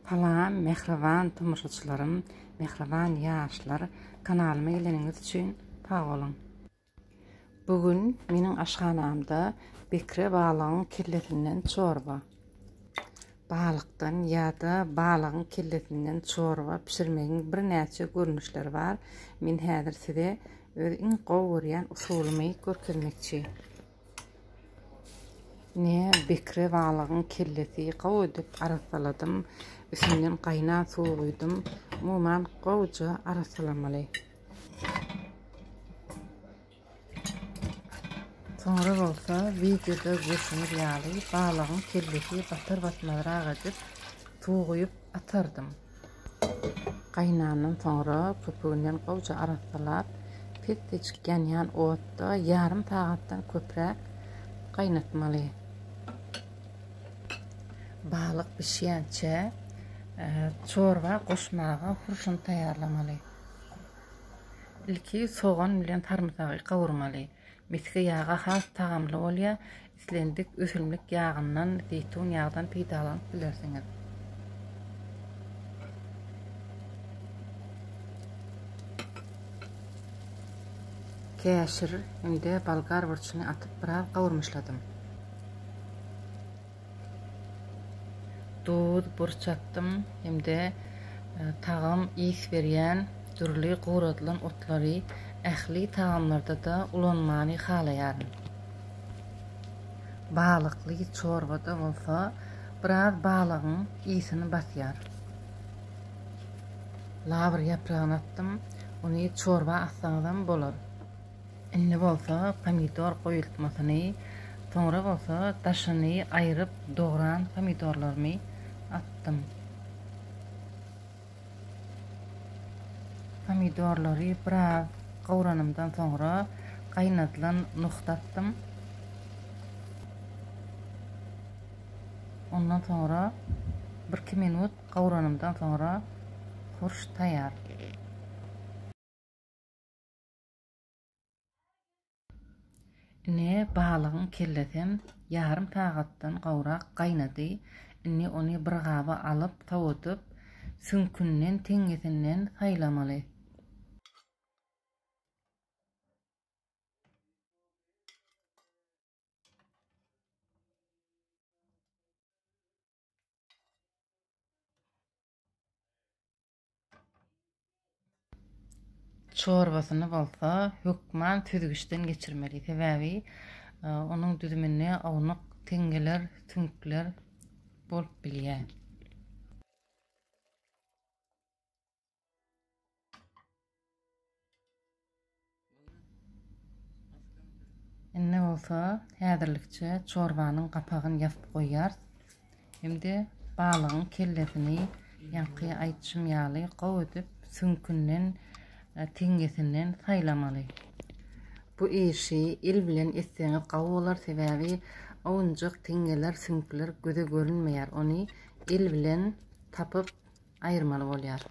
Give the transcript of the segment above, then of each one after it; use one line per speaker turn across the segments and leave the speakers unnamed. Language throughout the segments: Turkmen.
Salam mähriban tomaşaçylarym mähriban ýaşlar kanalyma geleniňiz üçin sag boluň. Bu gün meniň aşhanamda bekre balygyň kellesinden çorba. Balykdan ýa-da balygyň kellesinden çorba bişirmegiň birnäçe görnüşleri bar. Men häzir size öz iň gowy görýän usulymy görkezmekçi. Ine, bekre balygyň kellesi gowy edip arassaladym. Üstünden gaýnan suw guýdum. Umuman, gowuja arassalamaly. Soňra bolsa, wideoda görşüňiz ýaly, balygyň kellesi batar-batmazrak edip, suw guýup atardym. Gaýnandan soňra köpüginden gowja arassalap, pes-peçik ýanýan otda ýarym sagatdan köpräk gaýnatmaly. Balyk bişýänçä çorba goşmaga hurşun taýýarlamaly. Ilki sogan bilen sarymsagy gawurmaly. Misgi ýagy has tagamly bolýar. Islendik ösümlik ýagyndan, zeýtun ýagdan peýdalanyp bilersiňiz. Käşir hem-de bolgar burçuny atyp biraz gawurmyşladym. Duz, burç atdym hem-de tagam, ys berýän dürli guradylan otlary ähli tagamlarda-da ulanmany halaýaryn. Balykly çorbada bolsa biraz balygyň ysini basýar. Lawr ýapragyny atdym. Ony çorba atsaňyzam bolar. Indi bolsa pomidor goýultmasyny, soňra bolsa daşyny aýryp dogran pomidorlarymy atdym. Pomidorlary biraz gowranymdan soňra gaýnadylan nohut atdym. Ondan soňra birki minut gowranymdan soňra hurş taýýar. Ine, balygyň kellesem ýarym sagatdan gowrak gaýnady. Indi ony bir gaba alyp, sowadyp, süňkünden, teňňesinden saýlamaly. Çorbasyny bolsa hökman süzgüçden geçirmeli. Sebäbi e, onuň düzüminde awnuk teňňeler, süňkler bolup bilýär. Indi bolsa häzirlikçe çorbanyň gapagyn ýapyp goýýar. Şimdi balygyň kellesini ýaňky aýtşym ýaly gowy edip süňkünden, e, teňňesinden saýlamaly. Bu işi il bilen etseňiz gowy bolar, sebäbi owunjak teňňeler, süňkler göze görünmeýär. Ony il bilen tapyp aýyrmaly bolýar.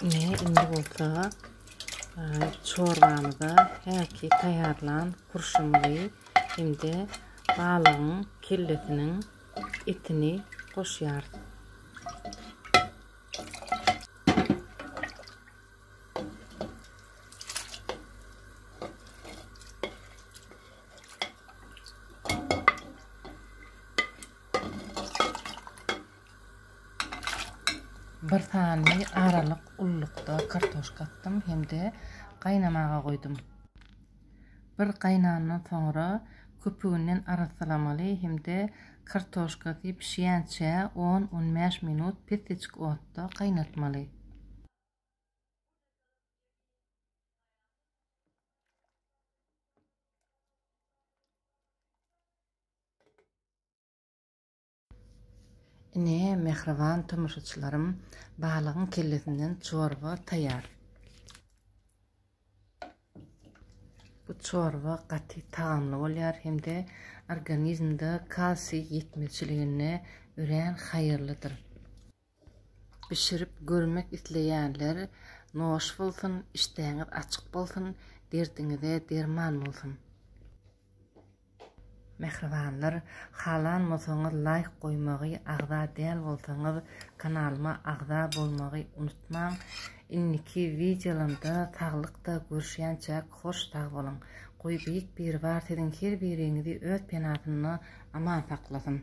Ine, indi bolsa çorbamyza häki taýýarlan kurşumyzy hem-de balygyň kellesiniň etini goşýarys. Bir sany aralyk ullukda kartoşka atdym hem-de gaýnamaga goýdum. Bir gaýnandan soňra köpüginden arassalamaly hem-de kartoşkasy bişýänçä on-on bäş minut pesiçik otda gaýnatmaly. Ine, mähriban tomaşaçylarym, balygyň kellesinden çorba taýýar. Bu çorba gaty tagamly bolýar hem-de organizmde kalsiý ýetmezçiligine örän haýyrlydyr. Bişirip görmek isleýänler noş bolsun işdäňiz açyk bolsun derdiňize derman bolsun. Mähribanlar halanmasaňyz laýk goýmagy agza däl bolsaňyz kanalyma agza bolmagy unutmaň indiki wideolamda saglykda görüşýänçäk hoş sag boluň goý beýik biribar siziň her biriňizi öz penasynda aman saklasyn.